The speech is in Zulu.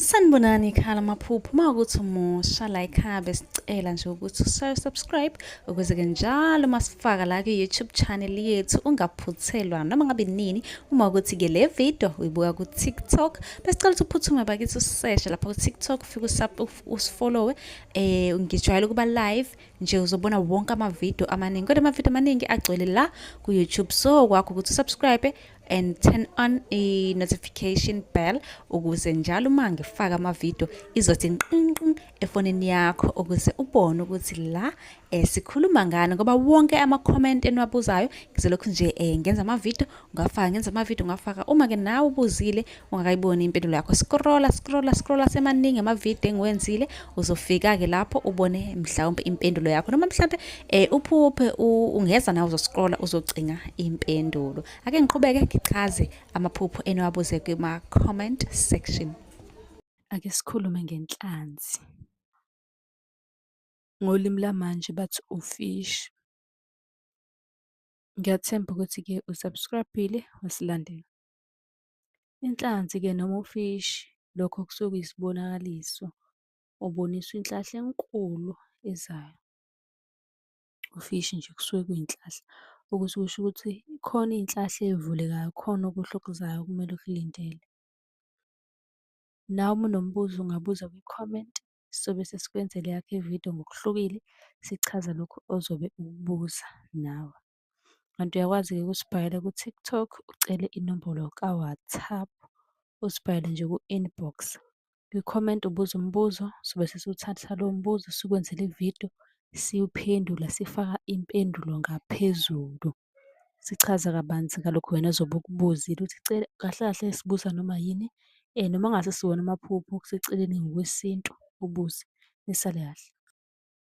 sanibonani ikhala amaphupho uma ukuthi umusha la ikhaya besicela nje ukuthi ushaye subscribe ukuze-ke njalo uma sifaka la kwi-youtube channel yethu ungaphuthelwa noma ngabe nini uma ukuthi-ke le video uyibuka ku-tiktok besicela ukuthi uphuthume bakithi useshe lapha ku-tiktok ufike usifollowe um ngijwayele ukuba live nje uzobona wonke amavidiyo amaningi kodwa amavidiyo amaningi agcwele la ku-youtube so kwakho ukuthi usubscribe and turn on a notification bell ukuze njalo uma ngifaka amavidiyo izothi nqinqin efonini yakho ukuze ubone ukuthi la eh, sikhuluma ngani ngoba wonke ama-comment eniwabuzayo ngizolokhu nje eh, ngenza amavidiyo ngafaka ngenza amavidiyo ngafaka uma-ke nawe ubuzile ungakayiboni impendulo yakho scrolla scrolla scrolla semaningi amavidiyo engiwenzile uzofika-ke lapho ubone mhlawumpe impendulo yakho noma mhlawumpe um uphuphe ungeza nawe uzoscrolla uzocinga impendulo ake ngiqhubeke ngichaze amaphupho eniwabuze kuma-comment section ake sikhulume ngenhlanzi ngolimi lamanje bathi ufish ngiyathemba ukuthi-ke usubscribile wasilandela Inhlanzi-ke noma ufishi, lokho kusuke kuyisibonakaliso, uboniswa inhlahla enkulu ezayo. Ufishi nje kusuke kuyinhlahla, okusuke kusho ukuthi khona iy'nhlahla ey'vulekayo, khona okuhle okuzayo okumele ukulindele. Nawe uma unombuzo ungabuza kwi-comment, sobe sesikwenzela eyakho ividiyo ngokuhlukile, sichaza lokhu ozobe ukubuza nawe. Kanti uyakwazi-ke ukusibhalela ku-TikTok ucele inombolo ka-WhatsApp, usibhalele nje ku-inbox. Kwi-comment ubuze umbuzo, sobe sesiwuthatha lowo mbuzo sikwenzele ividiyo, siwuphendula sifaka impendulo ngaphezulu. Sichaza kabanzi ngalokhu wena ozobe ukubuzile ukuthi cela kahle kahle sibuza noma yini noma ngase siwona amaphupho siceleni ngokwesintu ubuze nisale kahle.